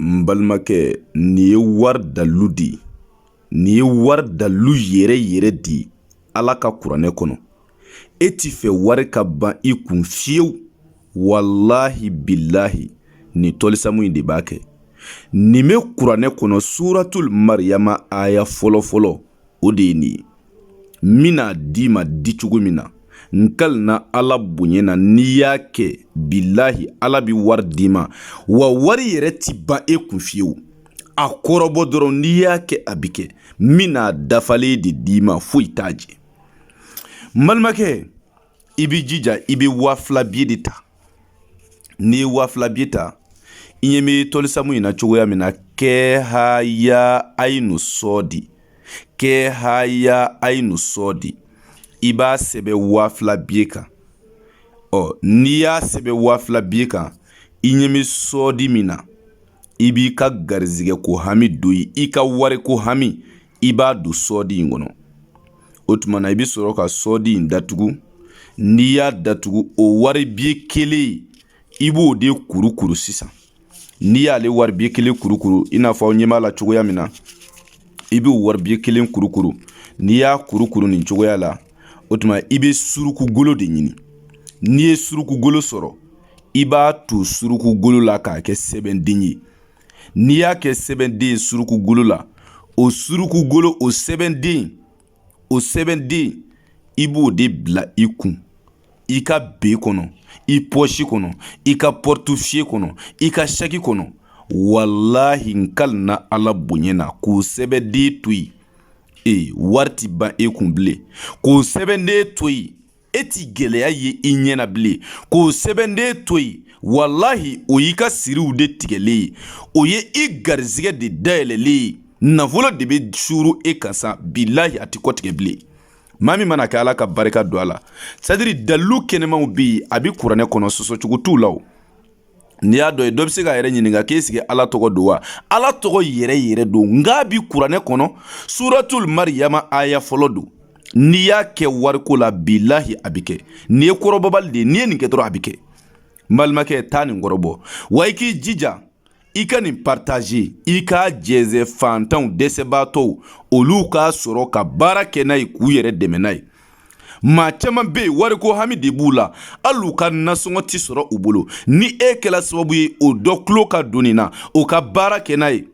n balimakɛ nin ye wari dalilu de ye nin ye wari dalilu yɛrɛ yɛrɛ de ye ala ka kuranɛ kɔnɔ e t'a fɛ wari ka ban i kun fiyewu walahi bilahi nin tɔlisamu in de b'a kɛ nin bɛ kuranɛ kɔnɔ suratul mariyama aya fɔlɔ fɔlɔ o de ye nin ye n bɛn'a d'i ma di cogo min na n kalina ala bonya na n'i y'a kɛ bilahi ala bi wari d'i ma wa wari yɛrɛ ti ban e kun fiyewu a kɔrɔbɔ dɔrɔn n'i y'a kɛ a bi kɛ n bɛn'a dafalen de d'i ma foyi t'a jɛ n balimakɛ i b'i jija i bɛ waa fila biye de ta n'i ye waa fila biye ta i ɲɛ bɛ tɔlisamu in na cogoya min na kɛ haya ayinu sɔɔdi kɛ haya ayinu sɔɔdi i b'a sɛbɛn waa fila biye kan ɔ n'i y'a sɛbɛn waa fila biye kan i ɲɛ bɛ sɔɔdi min na i b'i ka garizigɛ ko hami don i ka wari ko hami i b'a don sɔɔdi in kɔnɔ o tuma na i bɛ sɔrɔ ka sɔɔdi in datugu n'i y'a datugu o wari biye kelen i b'o de kurukuru sisan n'i y'ale wari biye kelen kurukuru i n'a fɔ aw ɲɛ b'a la cogoya min na i b'o wari biye kelen kurukuru n'i y'a kurukuru nin cogoya la o tuma i bɛ suruku golo de ɲini n'i ye suruku golo sɔrɔ i b'a to suruku golo la k'a kɛ sɛbɛnden ye n'i y'a kɛ sɛbɛnden suruku golo la o suruku golo o sɛbɛnden o sɛbɛnden i b'o de bila i kun i ka be kɔnɔ i pɔsi kɔnɔ i ka pɔritufiye kɔnɔ i ka saki kɔnɔ walahi n kalina ala bonya na k'o sɛbɛnden to yen ee wari ti ban e kun bilen k'o sɛbɛnden to yen e ti gɛlɛya ye i ɲɛ na bilen k'o sɛbɛnden to yen walahi o y'i ka siriw de tigɛlen ye o ye i garizigɛ de dayɛlɛlen ye nafolo de bɛ suuru e kan sa bilahi a ti kɔtigɛ bilen maa min man'a kɛ ala ka barika don a la sɛtadiri dalilu kɛnɛmanw bɛ yen a bɛ kuranɛ kɔnɔ sɔsɔcogo t'u la o n'i y'a dɔn ye dɔ bɛ se k'a yɛrɛ ɲininka k'ɛsiki ala tɔgɔ don wa ala tɔgɔ yɛrɛ yɛrɛ don nk'a bi kuranɛ kɔnɔ suratul mariyama aya fɔlɔ don n'i y'a kɛ wariko la bilahi a bɛ kɛ nin ye kɔrɔbɔbali de ye n'i ye nin kɛ dɔrɔn a bɛ kɛ n balimakɛ taa nin kɔrɔbɔ wa i k'i jija i ka nin partaze i k'a jɛnsɛn faantanw dɛsɛbaatɔw olu k'a sɔrɔ ka baara kɛ n'a ye k'u yɛrɛ dɛmɛ n'a ye maa caman be yen wariko hami de b'u la hali u ka nasɔngɔ tɛ sɔrɔ u bolo ni e kɛla sababu ye o dɔ tulo ka don nin na o ka baara kɛ n'a ye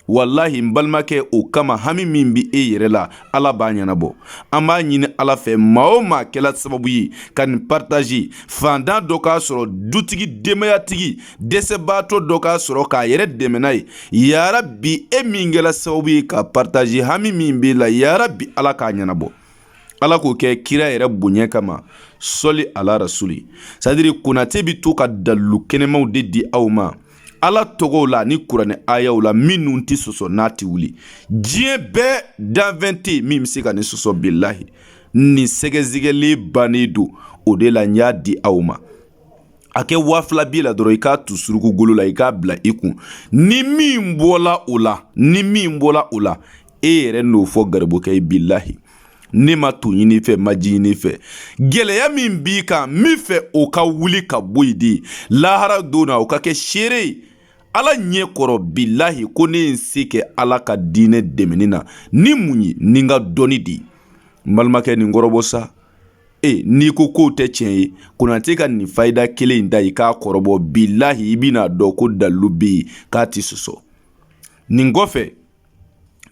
walahi n balimakɛ o kama hami min bi e yɛrɛ la ala b'a ɲɛnabɔ an b'a ɲini ala fɛ maa o maa kɛla sababu ye ka nin partazi faantan dɔ k'a sɔrɔ dutigi denbayatigi dɛsɛbaatɔ dɔ k'a sɔrɔ k'a yɛrɛ dɛmɛ n'a ye yarabi e min kɛla sababu ye ka partazi hami min b'e la yarabi ala k'a ɲɛnabɔ ala k'o kɛ kira yɛrɛ bonya kama sɔli ala rasuli sadiri konate bi to ka dalilu kɛnɛmaw de di aw ma ala tɔgɔw la ni kuranɛ ayaw la minnu tɛ sɔsɔ n'a tɛ wuli diɲɛ bɛɛ danfɛn tɛ min bɛ se ka nin sɔsɔ bilahi nin sɛgɛsɛgɛli bannen don o de la n y'a di aw ma a kɛ waa fila biye la dɔrɔn i k'a tu suruku golo la i k'a bila i kun ni min bɔla o la ni min bɔla o la e yɛrɛ n'o fɔ garibukɛ ye bilahi ne ma to ɲini i fɛ n ma ji ɲini i fɛ gɛlɛya min b'i kan n bi n fɛ o ka wuli ka bɔ yen de lahara don na o ka kɛ seere ye ala ɲɛ kɔrɔ bilahi ko ne ye n se kɛ ala ka diinɛ dɛmɛni na ni mun ye ni n ka dɔnni de ye n balimakɛ nin kɔrɔbɔ sa e n'i ko k'o tɛ tiɲɛ ye konate ka nin fayida kelen in da i k'a kɔrɔbɔ bilahi i bɛna dɔn ko dalilu bɛ yen k'a tɛ sɔsɔ nin kɔfɛ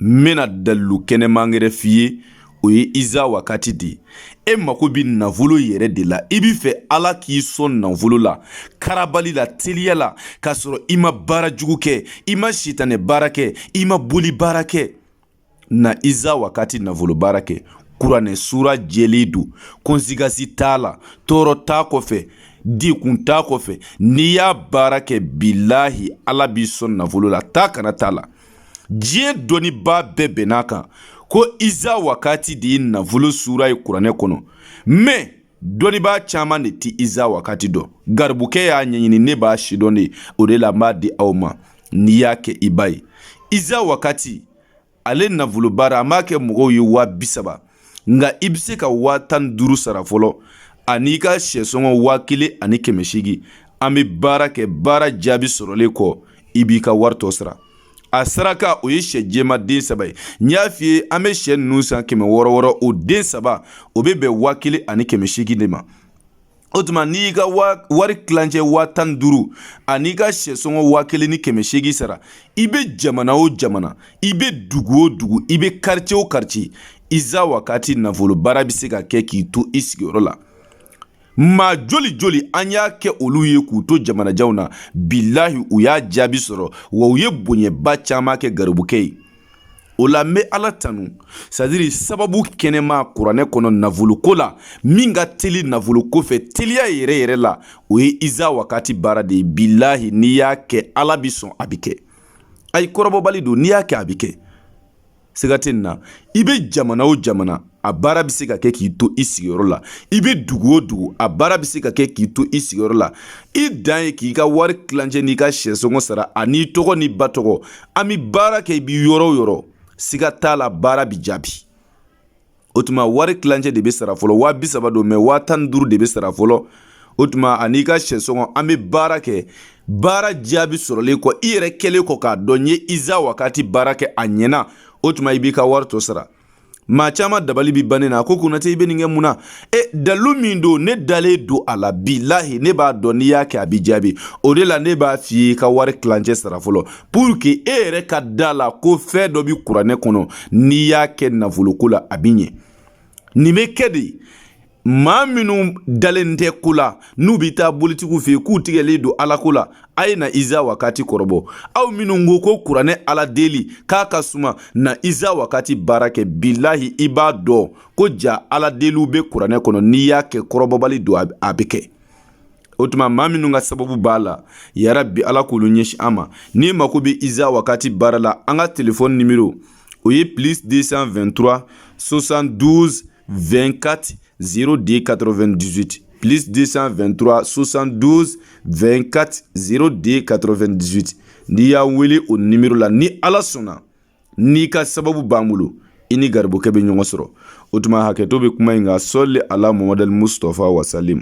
n bɛna dalilu kɛnɛman wɛrɛ f'i ye o ye iza wakati de ye e mako bɛ nafolo yɛrɛ de la i b'i fɛ ala k'i sɔn nafolo la karabali la teliya la k'a sɔrɔ i ma baara jugu kɛ i ma sitanɛ baara kɛ i ma boli baara kɛ na iza wakati nafolo baara kɛ kuranɛ sura jɛlen don konsigasi t'a la tɔɔrɔ t'a kɔfɛ degun t'a kɔfɛ n'i y'a baara kɛ bilahi ala b'i sɔn nafolo la taa ka na t'a la diɲɛ dɔnnibaa bɛɛ bɛnn'a kan ko iza wakati de ye nafolo sura ye kuranɛ kɔnɔ mɛ dɔnnibaa caman de tɛ iza wakati dɔn garibukɛ y'a ɲɛɲini ne b'a sidɔn de o de la n b'a di aw ma n'i y'a kɛ i b'a ye iza wakati ale nafolo baara an b'a kɛ mɔgɔw ye waa bi saba nka i bɛ se ka waa tan duuru sara fɔlɔ an'i ka sɛsɔngɔ waa kelen ani kɛmɛ seegin an bɛ baara kɛ baara jaabi sɔrɔlen kɔ i b'i ka wari tɔ sara a saraka o ye sɛ jɛman den saba ye n y'a f'i ye an bɛ sɛ ninnu san kɛmɛ wɔɔrɔ wɔɔrɔ o den saba o bɛ bɛn waa kelen ani kɛmɛ seegin de ma o tuma n'i y'i ka wari tilancɛ waa tan ni duuru an'i ka sɛsɔngɔ waa kelen ni kɛmɛ seegin sara i bɛ jamana o jamana i bɛ dugu o dugu i bɛ karice o karice iza wakati nafolo baara bɛ se ka kɛ k'i to i sigiyɔrɔ la maa joli joli an y'a kɛ olu ye k'u to jamanajanw na bilahi u y'a jaabi sɔrɔ wa u ye bonyaba caman kɛ garibukɛ ye o la n bɛ ala tanu c'est-à-dire sababu kɛnɛma kuranɛ kɔnɔ nafoloko la min ka teli nafoloko fɛ teliya yɛrɛ yɛrɛ la o ye iza wakati baara de ye bilahi n'i y'a kɛ ala bi sɔn a bi kɛ ayi kɔrɔbɔbali don n'i y'a kɛ a bi kɛ siga tɛ nin na i bɛ jamana o jamana a baara bɛ se ka kɛ k'i to i sigiyɔrɔ la i bɛ dugu o dugu a baara bɛ se ka kɛ k'i to i sigiyɔrɔ la i dan ye k'i ka wari kilancɛ n'i ka sɛsɔngɔ sara an'i tɔgɔ n'i ba tɔgɔ an bɛ baara kɛ i bɛ yɔrɔ o yɔrɔ siga t'a la baara bɛ jaabi o tuma wari kilancɛ de bɛ sara fɔlɔ waa bi saba don mais waa tan ni duuru de bɛ sara fɔlɔ o tuma an'i ka sɛsɔngɔ an bɛ baara kɛ baara jaabi sɔrɔlen kɔ i yɛrɛ kɛlen kɔ k'a dɔn n ye iza wakati baara kɛ a ɲɛna o tuma i b'i ka wari tɔ sara maa caman dabali bi ban ne na a ko konate i bɛ nin kɛ mun na e dalu min don ne dalen don a la bilahi ne b'a dɔn n'i y'a kɛ a bi jaabi o de la ne b'a f'i ye i ka wari kilancɛ sara fɔlɔ pour que e yɛrɛ ka da la ko fɛn dɔ bi kuranɛ kɔnɔ n'i y'a kɛ nafoloko la a bi ɲɛ nin bɛ kɛ de maa minnu dalen tɛ ko la n'u bɛ taa bolitigiw fɛ yen k'u tigɛlen don alako la a ye na iza wakati kɔrɔbɔ aw minnu ko ko kuranɛ ala deli k'a ka suma na iza wakati baara kɛ bilahi i b'a dɔn ko jaa ala deliw bɛ kuranɛ kɔnɔ n'i y'a kɛ kɔrɔbɔbali don a bɛ kɛ o tuma maa minnu ka sababu b'a la yarabi ala k'olu ɲɛsin an ma n'i mako bɛ iza wakati baara la an ka telefɔni nimero o ye plus 223 72 2kati z de ka2diti plis de 2tura sonsan don2kati z de ka2diti n'i y'a wele o ni miiriri la ni ala sɔnna n'i ka sababu b'an bolo i ni garibukɛ bɛ ɲɔgɔn sɔrɔ o tuma hakɛto bɛ kuma in nka sɔli a la mɔd musfa wasali